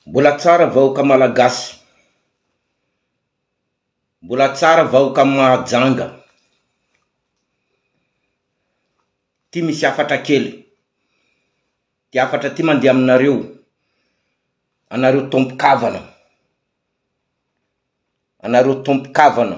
Mbola tsara vahoka malagasy. Mbola tsara vahoka Mahajanga. Ty misy hafatra kely. Ty hafatra ty mandeha aminareo. Anareo tompokavana. Anareo tompokavana.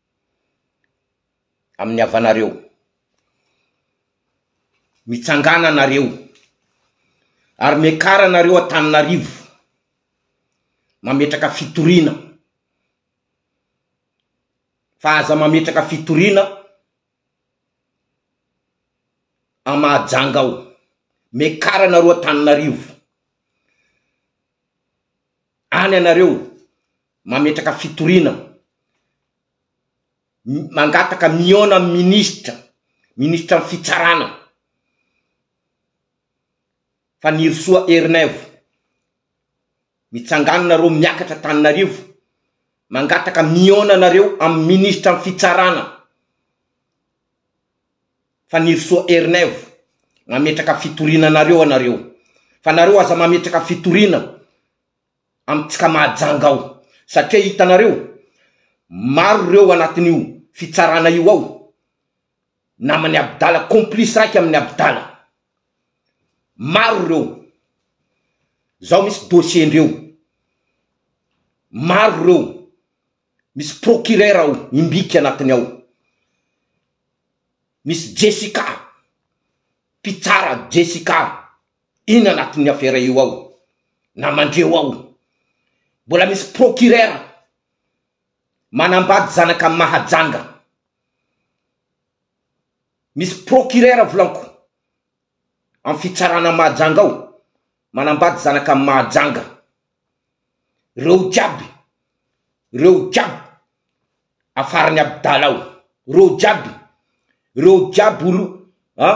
amin'ny havanareo. Mitsangàna nareo, ary miakara nareo Antananarivo, mametraka fitoriana, fa aza mametraka fitoriana à Mahajanga ao, miakara nareo Antananarivo, any anareo. mametraka fitoriana, mangataka mihaona amin'ny minisitra, minisitra ny fitsarana, Fanirisoa Ernaivo, mitsangano nareo miakatra Antananarivo, mangataka mihaona anareo amin'ny minisitra ny fitsarana, Fanirisoa Ernaivo, mametraka fitoriana anareo anareo, fa nareo aza mametraka fitoriana, amintsika Mahajanga ao satria hitanareo maro ireo anatin'io fitsarana io ao naman'i Abdala complice raiky amin'i Abdala maro ireo zao misy dossier ndreo maro ireo misy procureur ao imbika anatiny ao misy Jessica mpitsara Jessica Inn anatin'ny afera io ao na mandreo ao mbola misy procureur manambady zanaka mahajanga misy procureur volanko am fitsarana mahajanga ao manambady zanaka mahajanga reo jiaby reo jiaby afaran'i abdala ao reo jiaby reo jiaby olo an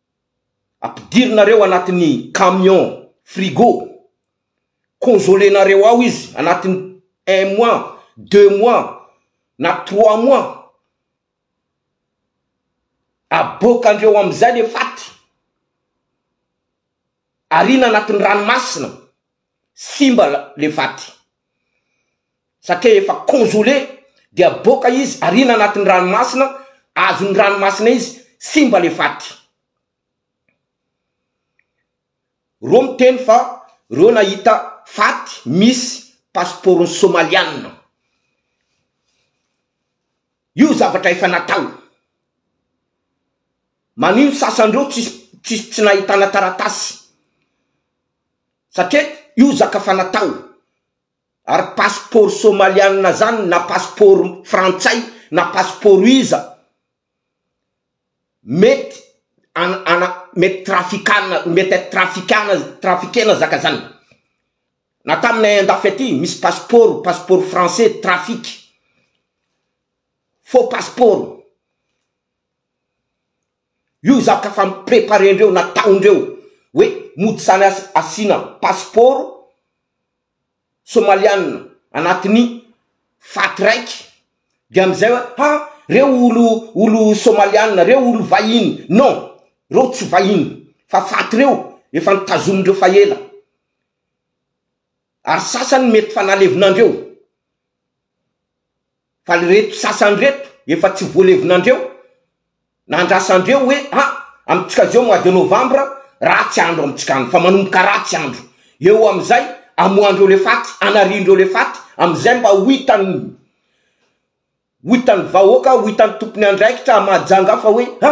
Ampidirinareo anatin'ny camion frigo congeler-nareo ao izy anatin'ny un mois, deux mois na trois mois. Aboakandreo amin'izay le faty. Ariana anatin'ny ranomasina. Simba le vaty satria efa conjolé de aboaka izy ariana anatin'ny ranomasina azon'ny ranomasina izy simba le vaty. Reo miteny fa reo nahita faty misy pasipaoron'ny somalianina. Io zavatra efa natao. Manino sasan'reo tsisy tsisy tsy nahitana taratasy. satria io zaka fa natao ary passeport somalianina zany na passeport frantsay na passeport iza mety ana mety trafikana mety trafikana trafikena zaka zany na taminay andafy aty misy passeport passeport français trafic faux passeport Io zaka efa nopreparendreo nataondreo hoe mody zany asiana pasipaoro somalianina anatin'ny fat raiky dia amizay hoe ha reo olo olo somalianina reo olo vahiny non reo tsy vahiny fa fat reo efa notazomindreo fa ela ary sasany mety fa nalevonandreo Fa ry reto sasany reto efa tsy voalevonandreo na andrasandreo hoe a amintsika zao mois de novembre ratsy andro amintsika any fa manomboka ratsy andro eo amizay amoandreo le faty anariandreo le faty amizay mba ho hitan'ny ho hitan'ny vahoaka ho hitan'ny tompony andraikitra mahajanga fa hoe a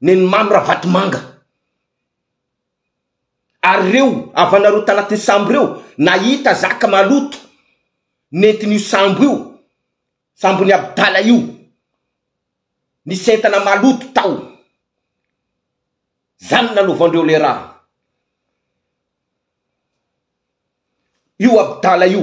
Neny Mamy Ravatomanga. Ary ireo havanareo tanatin'ny sambo ireo nahita zaka maloto nentin'io sambo io, sambon'i Abdala io, nisy entana maloto tao. Izany no nanaovan-dreo ilay raha. Io Abdala io.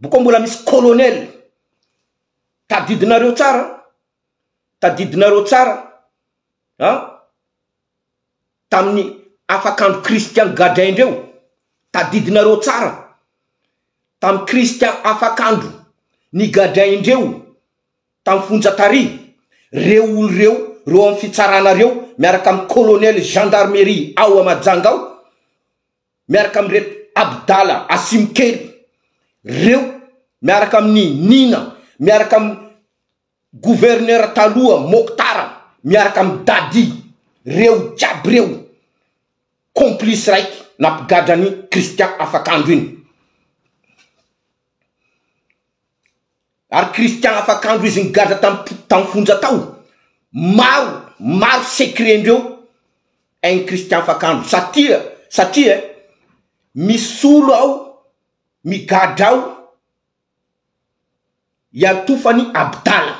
Boko mbola misy colonel. Tadidinareo tsara, tadidinareo tsara an, tamin'ny afakandro Christian gadraindry eo, tadidinareo tsara tamin'ny Christian afakandro nigadraindry eo tamin'ny fonja tary reo olo reo reo amin'ny fitsarana reo miaraka amin'ny colonel gendarmerie ao a Majanga ao, miaraka amin'ireto Abdala Asimokely reo, miaraka amin'i Nina, miaraka amin'ny gouverneur taloha Mokhtar, miaraka amin'i Dadi, reo jiaby reo complice raiky nampigadra an'i Christian Afakandro iny. Ary Christian afakandro izy nigadra tam tam fonja tao maro maro secret ndreo ein Christian afakandro satria satria eh misolo ao migadra ao iantofany abdala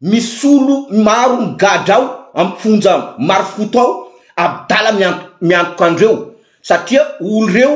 misolo maro migadra ao am fonja marofoto ao abdala miantoka andreo satria olo reo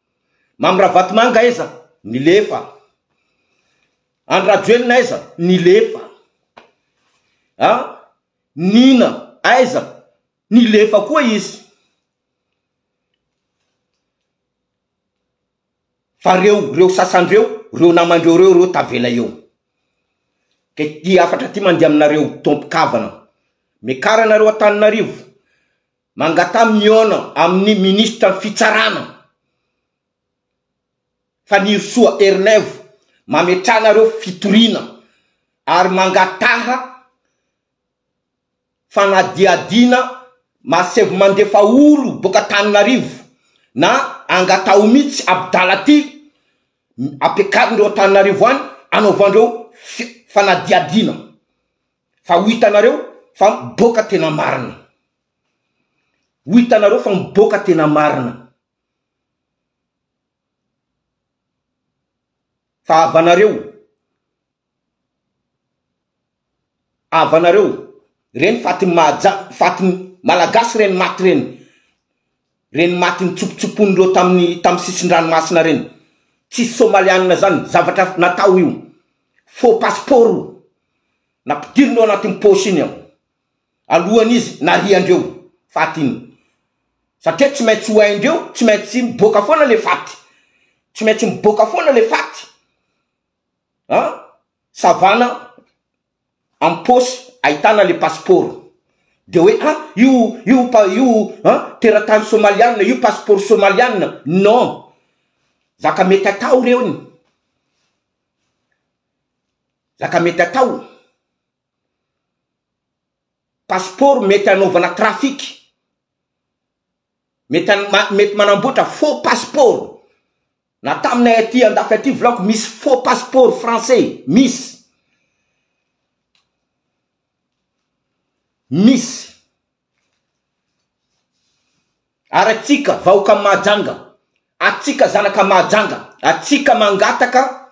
Mamy Ravatomanga aiza? Nilefa. Andry Rajoelina aiza? Nilefa. A! Nina aiza? Nilefa koa izy. Fa reo, reo sasany reo, reo namandreo reo, reo tavela eo. Ka ity hafatra ity mandeha aminareo, tompon-kavana. Mekara nareo Antananarivo. Mangataha mihaona amin'ny minisitra ny fitsarana Fanirisoa Ernaivo mametrahana ireo fitoriana ary mangataha fanadihadiana masev mandefa olo boaka Antananarivo na angataho mitsy Abdala ty ampiakarindreo Antananarivo any anaovandreo fanadihadiana. Fa ho hitanareo fa miboaka tena marina. Ho hitanareo fa miboaka tena marina. Fa havanareo, havanareo, ireny fatin'ny mahaja, fatin'ny Malagasy ireny maty ireny, Reny maty nitsopotsopoiny reo taminy tamy sisindranomasina reny tsisy somalianina zany zavatra natao io faux passeport o napidiriny ao anatiny poche iny ao alohany izy nariandreo faty iny satria tsy maintsy ho aindreo tsy maintsy miboaka foana le faty tsy maintsy miboaka foana le faty an savana am paosy ahitana le pasipaoro de hoe a io io pa io a teratany somalianina io pasipaoro somalianina non zaka mety atao reo ny zaka mety atao pasipaoro mety anaovana trafic Mety mety manamboatra faux passeport. Na taminay aty andafy aty volako misy faux passeport français, misy. Misy. Ary atsika vahoka Mahajanga, atsika zanaka Mahajanga, atsika mangataka,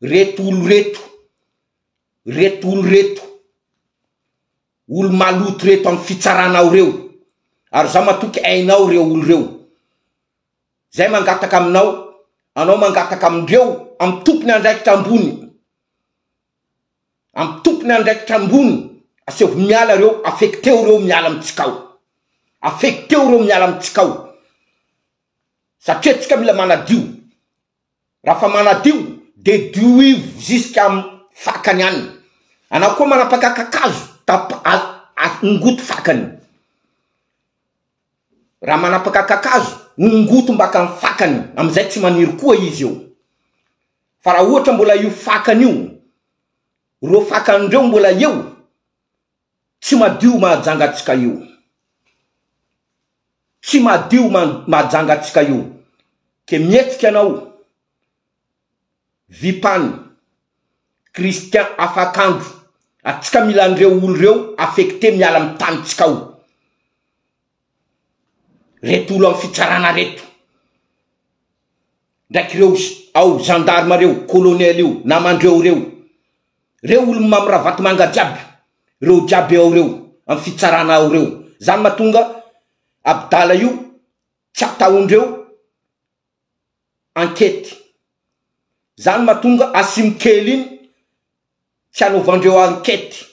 Reto olo reto, reto olo reto, olo maloto reto am fitsarana ao reo, ary za matoky ainao reo olo reo, zay mangataka aminao, anao mangataka amindreo am tompony andraikitra ambony, am tompony andraikitra ambony, asehovo miala reo, afeky teo reo miala amitsika ao, afeky teo reo miala amitsika ao, satria atsika mila manadio, Raha fa manadio dia dioivo jusqu'à am fakany any. Anao koa manapaka kakazo tap a ongoty fakany. Raha manapaka kakazo ongoty mbaka am fakany amizay tsy maniry koa izy eo. Fa raha ohatra mbola io fakany io, reo fakany reo mbola eo Tsy madio mahajanga antsika io. Tsy madio mahajanga antsika io. Ke mihetsika anao Vipan, Christian Afakandro atsika mila an'ireo olo reo affecte miala am tanintsika ao. reto olo am fitsarana reto ndraiky reo ao gendarme reo colonel io namandreo reo reo olo mam ravatomanga jiaby reo jiaby ao reo am fitsarana ao reo zany matonga abdala io tsy ataondreo enquete zany matonga asim kely iny tsy anaovandreo enquete